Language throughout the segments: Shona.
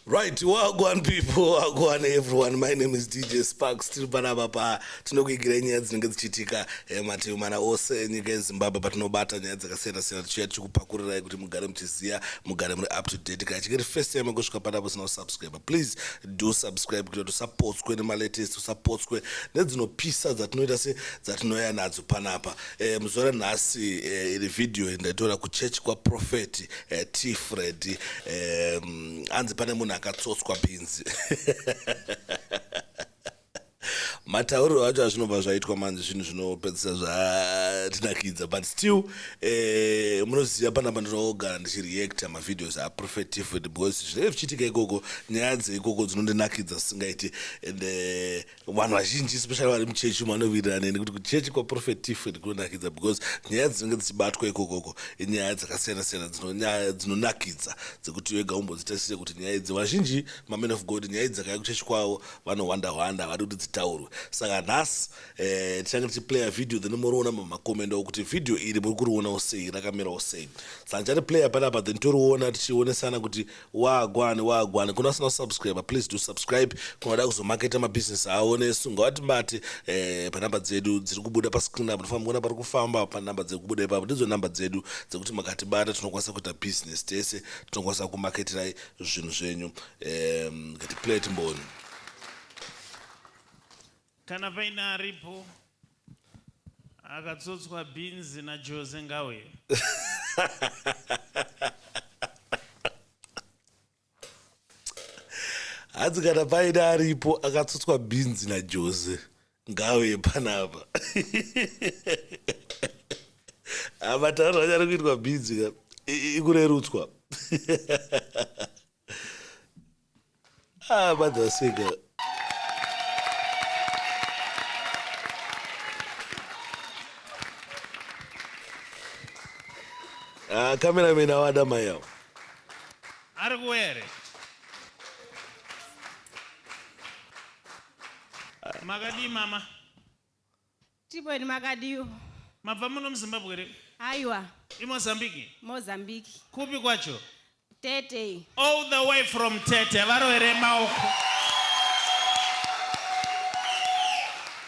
Right, wagwan people, wagwan everyone. My name is DJ Sparks. Tiri panapa pa tinokuigira nyaya dzinenge dzichiitika eh, mativi mana ose enyika yeZimbabwe patinobata nyaya dzakasiyana siyana tichiuya tichikupakurirayi kuti mugare muchiziva mugare muri up to date kana chingeri first time kusvika panapa usina kusubscribe please do subscribe kuitira tisapotswe nemalatest usapotswe nedzinopisa dzatinoita se dzatinoya nadzo panapa E, muzuva ranhasi e, iri vhidhiyo ndaitora kuchechi kwaprofeti e, eh, t fred e, mm, anzi pane munhu akatsotswa bhinzi matauriro acho azvinobva zvaitwa manje zvinhu zvinopedzisa zvatinakidza but still eh, munoziva pana pandinogara ndichireacta mavideos aprofetive because zvinenge zvichiitika ikoko nyaya dzeikoko dzinondinakidza zisingaiti and eh, vanhu vazhinji especially vari muchechi umo vanovirirana neni kuti kuchechi kwaprofet tifred kunonakidza because nyaya dzinenge dzichibatwa ikokoko inyaya dzakasiyana siyana dzinonyaya dzinonakidza dzekuti wega umbodzitarisire kuti nyaya idzi vazhinji mamen of god nyaya idzi dzakaya kuchechi kwavo vanohwanda hwanda havadi kuti dzitaurwe saka nhasi eh, tichange eh, tichiplaya video then moriona mamakomendo okuti video iri muri kurionawo sei rakamirawo sei saka ndichati playa panapa then toriona tichionesana kuti Wagwan wagwan kuna sina subscriber please do subscribe kunada kuzomaketa mabusiness awo nesu ngawati mbati eh, panamba dzedu dziri kubuda pascreen apo tofamba kuona pari kufamba panamba dziri kubuda ipapo ndidzo namba dzedu dzekuti makatibata tinokwanisa kuita business tese tinokwanisa kumaketirai zvinhu zvenyu eh, ngatiplay timboni Kana paine aripo akatsotswa bhinzi naJose ngauye. Hanzi kana paine aripo akatsotswa bhinzi naJose ngauye panapa. Matauriro anyari kuitwa bhinzi ikurerutswa. Ah, mother was saying, uh, Ah, cameraman awada mai awo ari kuuya here makadii mama Tibweni makadiwo. Mabva muno muZimbabwe here? Aiwa. IMozambique? Mozambique. Kupi kwacho? Tete. All the way from Tete varoere maoko.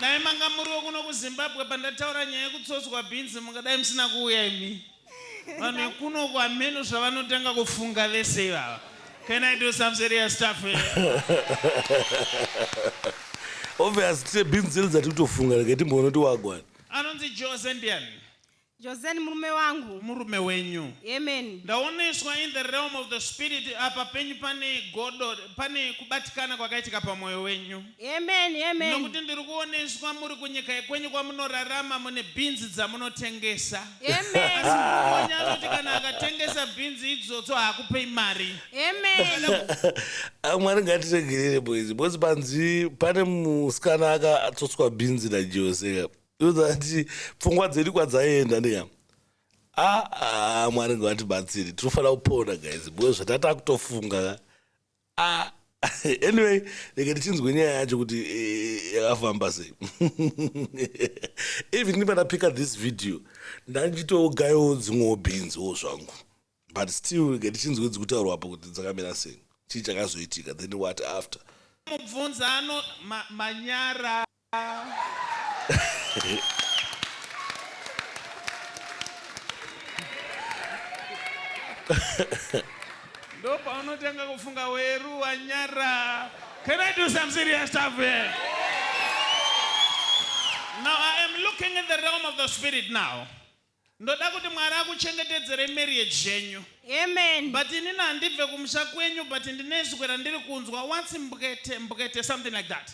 Dai manga muri wekuno kuZimbabwe pandataura nyaya yekutsotswa bhinzi mungadai musina kuuya imi. vanhu vekuno kwameno zvavanotanga kufunga vese ivava can i do some serious stuff obvious tine binzeli dzati kutofunga rege timboona kuti wagwana anonzi jose ndiani jose ni murume wangu murume wenyu amen ndaoneswa in the realm of the spirit apa penyu pane godo pane kubatikana kwakaitika pamwoyo wenyu Amen, amen. Nokuti ndiri kuoneswa muri kunyika yekwenyu kwamunorarama mune bhinzi dzamunotengesa. Amen. Asi mumwe anoti kana akatengesa bhinzi idzodzo haakupei mari. Amen. Ah, Mwari ngatiregerere boys because panzi pane musikana akatsotswa bhinzi naJose ndozati pfungwa dzedu kwadzaenda neya aa ah, ah, Mwari ngatibatsire tinofanira kupona guys because zvatatakutofunga Ah, anyway rega tichinzwe nyaya yacho kuti eh, yakafamba sei even if ndapika this video ndandichitogayawo dzimwewo bhinziwo zvangu but still rega tichinzwe dzikutaurwapo kuti dzakamira sei chii chakazoitika then what after mubvunza ano ma, manyara ndopaunotanga kufunga weru wanyara can i do some serious stuff here now i am looking in the realm of the spirit now Ndoda kuti Mwari akuchengetedzerei marriage yenyu. Amen. But inini handibve kumusha kwenyu but ndine izwi randiri kunzwa what's mbwete mbwete something like that.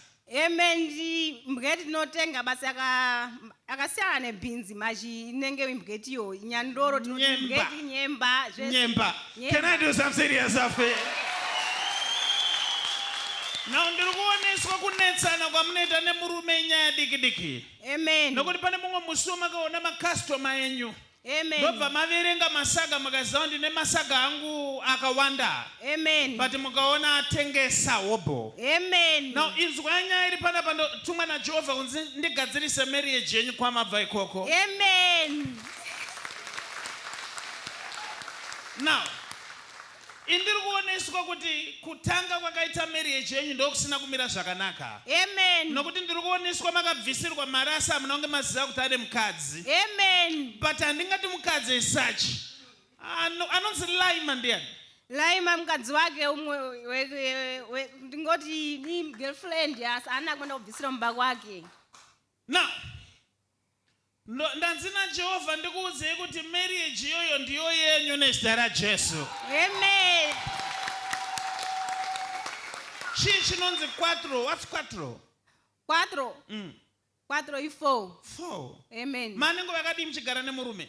Amen. Ndi- Mbweti tinotenga basi aka- akasiyana nebhinzi mazhi inenge mbweti iyo nyandoro tinoti Nyemba. mbweti nyemba zvese. Nyemba. Nyemba. Can I do some serious stuff here? Now ndiri kuoneswa kunetsana kwamunoita nemurume inyaya diki diki. Amen. Nokuti pane mumwe musi wamakaona makastoma enyu Amen. ndobva maverenga masaga mukaziva kuti ndine masaga angu akawanda Amen. but mukaona atengesa hobho Amen. now inzwai nyaya iri panapa ndotumwa najehovha kunzi ndigadzirise marriage yenyu kwamabva ikoko Amen. now Ini ndiri kuoneswa kuti kutanga kwakaita marriage yenyu ndokusina kumira zvakanaka. Amen. Nokuti ndiri kuoneswa makabvisirwa mari asi hamuna kunge maziva kuti ane mukadzi. Amen. But handingati mukadzi as such. Ano, anonzi Laima ndiyani? Laima mukadzi wake umwe ndingoti ni girlfriend asi ana kwenda kubvisira mumba kwake. Now Ndo, ndanzi naJehovha ndikuudzei kuti marriage iyoyo ndiyo yenyu nezita raJesu. Amen. Chii chinonzi quattro? What's quattro? Quattro. Mm. Quattro i four. Four. Amen. Manengo vakadii muchigara nemurume?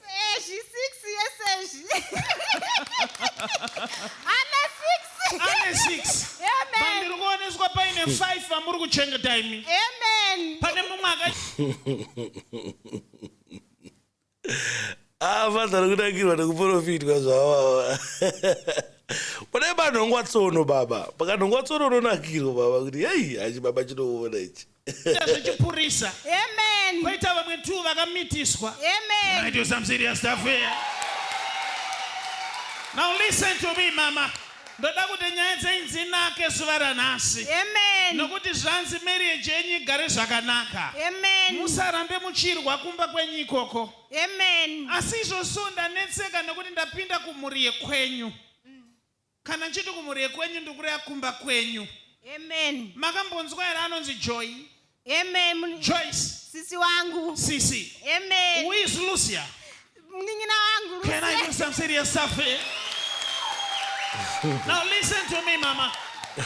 Sezhi six yesezhi. Ana six. ane 6 Amen. ndiri kuoneswa paine 5 vamuri kuchengeta imi Amen. pane mumwe aka Ah, father nokunakirwa nokuprofitwa zvavava pane panhongwa tsono baba pakanhongwa tsono unonakirwa baba kuti hei hachi baba chinoona ichi Ita zvechipurisa. Amen. Koita vamwe two vakamitiswa. Amen. I do some serious stuff here. Now listen to me mama. Ndoda kuti nyaya dzenyu dzinake zuva ranhasi. Amen. Nokuti zvanzi marriage yenyu igare zvakanaka. Amen. Musarambe muchirwa kumba kwenyu ikoko. Amen. Asi izvozvo ndanetseka nokuti ndapinda kumhuri yekwenyu. Kana ndichiti kumhuri yekwenyu ndikureva kumba kwenyu. Amen. Makambonzwa here anonzi Joy? Amen. Joyce. Sisi wangu. Sisi. Amen. Who is Lucia? Mnin'ina wangu Lucia. Can I do some serious stuff here? Now listen to me mama.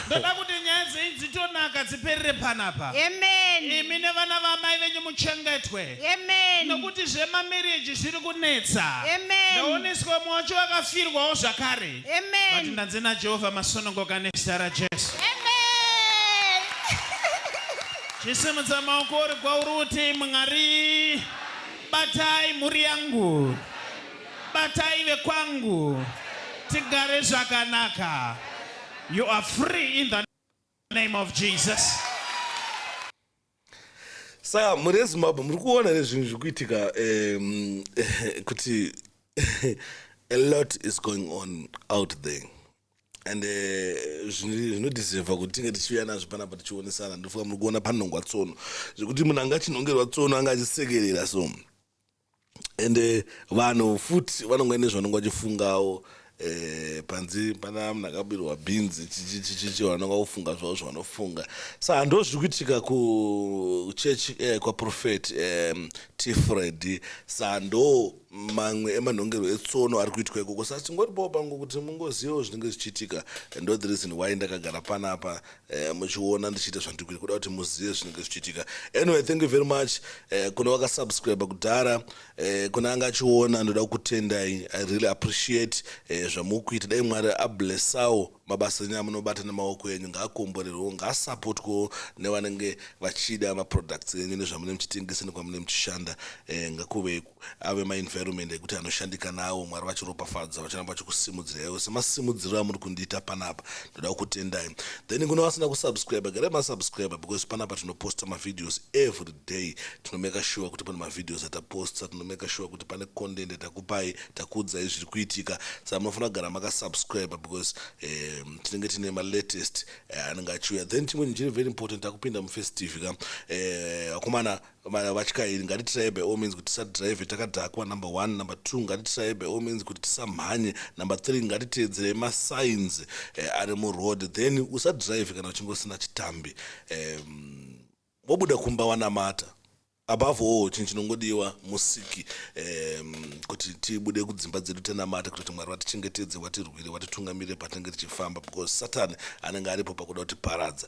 ndoda kuti nyaya dzenyu dzitonaka dziperere panapa amen imi nevana vamai venyu muchengetwe amen nokuti zvemamereji zviri kunetsa amen ndaoneswa mwacho vakafirwawo zvakare Amen. Vati ndanzi naJehovha masununguka nezita raJesu. Amen. Chisimudza maoko uri kwauri uti Mwari batai mhuri yangu. Batai vekwangu. Tigare zvakanaka. You are free in the name of Jesus. saka mhuri yezimbabwe muri kuona here zvinhu zviri kuitika um, kuti a lot is going on out there and eh, zvinodiseva kuti tinge tichiuya nazvo panapa tichionesana ndofunga muri kuona panhongwa tsono zvekuti munhu anga achinhongerwa tsono anga achisekerera so and eh, vanhu futi vanonga ine zvanonga vachifungawo eh, panzi pana munhu akabirwa bhinzi chichichichichi vanonga vofunga zvavo zvavanofunga sa hando zviri kuitika kuchurch eh, kwaprofet eh, tifred sa ndo mamwe emanhongero etsono ari kuitwa ikoko sa tingoti boo pangu kuti mungozivawo zvinenge zvichiitika ndo the reason why ndakagara panapa Eh, muchiona ndichiita zvandiri kuda kuti muzive zvinenge zvichiitika anyway thank you very much eh, kune vakasubscribe kudhara eh, kune anga achiona ndoda kukutendai i really appreciate eh, zvamuri kuita dai mwari ablessawo mabasa enyu amunobata nemaoko enyu ngaakomborerwewo ngaasapotwewo nevanenge vachida maproducts enyu nezvamunenge muchitengesa nekwamune muchishanda eh, ngakuve ave maenvironment ekuti anoshandika nawo mwari vachiropafadza vachiramba vachikusimudziraiwo semasimudziro amuri kundiita panapa ndoda kukutendai then kune vasina kusubscribe garai masubscribe because panapa tinoposta mavideos every day tinomeka sure kuti pane mavideos ataposta tinomeka sure kuti pane content atakupai takuudzai zviri kuitika sa munofanira kugara makasubscribe because um, tinenge tine malatest eh, anenge achiuya then chimwe chiri very important takupinda mufirst tv ka eh, akomana Vatyairi ngatitiraye by all means kuti tisadrive takadhakwa number one, number two ngatitiraye by all means kuti tisamhanye, number three ngatiteedzerei masigns eh, ari muroad then usadrive kana uchinge usina chitambi eh, wobuda kumba wanamata above all chinhu chinongodiwa musiki um, kuti tibude kudzimba dzedu tenamata kuti mwari vatichengetedze watirwire watitungamire patinenge tichifamba because satani anenge aripo pakuda kutiparadza